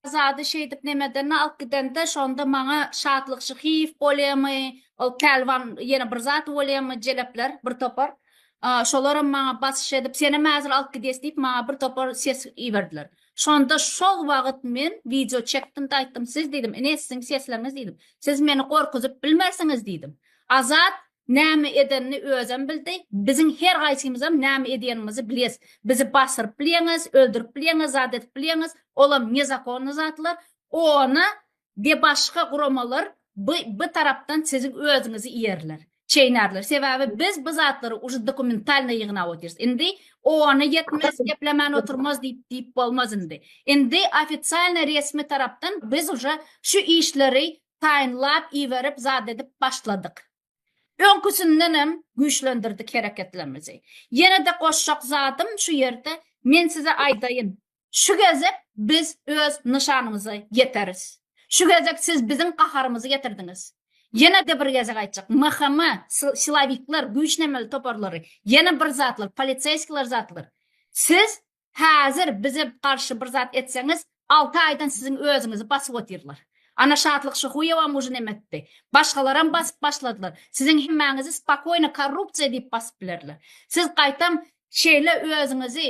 Azady şeýdip nemedenini alyp gidende şonda maňa Şatlyk Şyhyýew bolýamy, ol pälwan ýene bir zat bolýamy, jelepler bir topar. Şolaram maňa basyş edip, senem häzir alyp gidýäs diýip maňa bir topar ses iberdiler. Şonda şol wagyt men wideo çekdim-de aýtdym, siz diýdim, ine siziň sesleriňiz diýdim, siz meni gorkuzyp bilmersiňiz diýdim. Azat Näme edenini özem bildi. Biziň her gaýsymyzam näme edýänimizi biles. Bizi basyryp bilýäňiz, öldürip bilýäňiz, zat edip bilýäňiz. Olam nezakonny zatlar. Ony de başga guramalar by by tarapdan siziň özüňizi iýerler. Çeýnärler. Sebäbi biz bu zatlary uje dokumentalnyý ýygnap otyrys. Indi ony ýetmez, geplemän oturmaz diýip diýip bolmaz indi. Indi ofisialnyý resmi tarapdan biz uje şu işleri taýynlap iberip zat edip başladyk. Öňküsindenem güýçlendirdik hereketlerimizi. Ýene-de goşjak zadym şu ýerde men size aýdaýyn, şu gezek biz öz nyşanymyza ýeteris. Şu gezek siz biziň gaharymyzy getirdiňiz. Ýene-de bir gezek aýtjak, MHM, silowikler, güýçlenmeli toparlary, ýene bir zatlar, poliseýskiler zatlar, siz Häzir bize garşy bir zat etseňiz, alty aýdan siziň özüňizi basyp otyrlar. Ana Şatlyk Şyhuýewam ujy nemetdi. Başgalaram basyp başladylar. Siziň hemmäňizi spokoýno korrupsiýa diýip basyp bilerler. Siz gaýtam şeýle özüňizi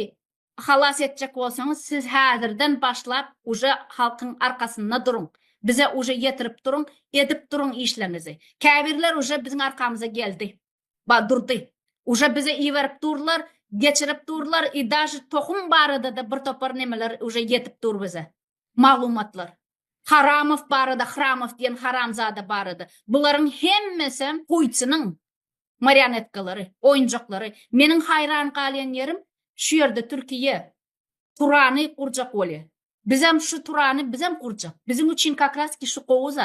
halas etjek bolsaňyz, siz häzirden başlap uje halkyň arkasynda duruň. Bize uje ýetirip duruň, edip duruň işleňizi. Käbirler uje biziň arkamyza geldi. Ba Durdy. Uje bize iberip durlar, geçirip durlar i daže tohum baradada bir topar nemeler uje yetip dur bize. Maglumatlar. Haramow barada Hramow diyen haramzada barada. Bularyň hemmesem Putiniň marionetkalary, oýunjaklary. Meniň haýran galýan ýerim şu ýerde Türkiýe Turany gurjak bolýa. Bizem şu Turany bizem gurjak. Biziň üçin kakras ki şu gowy zat.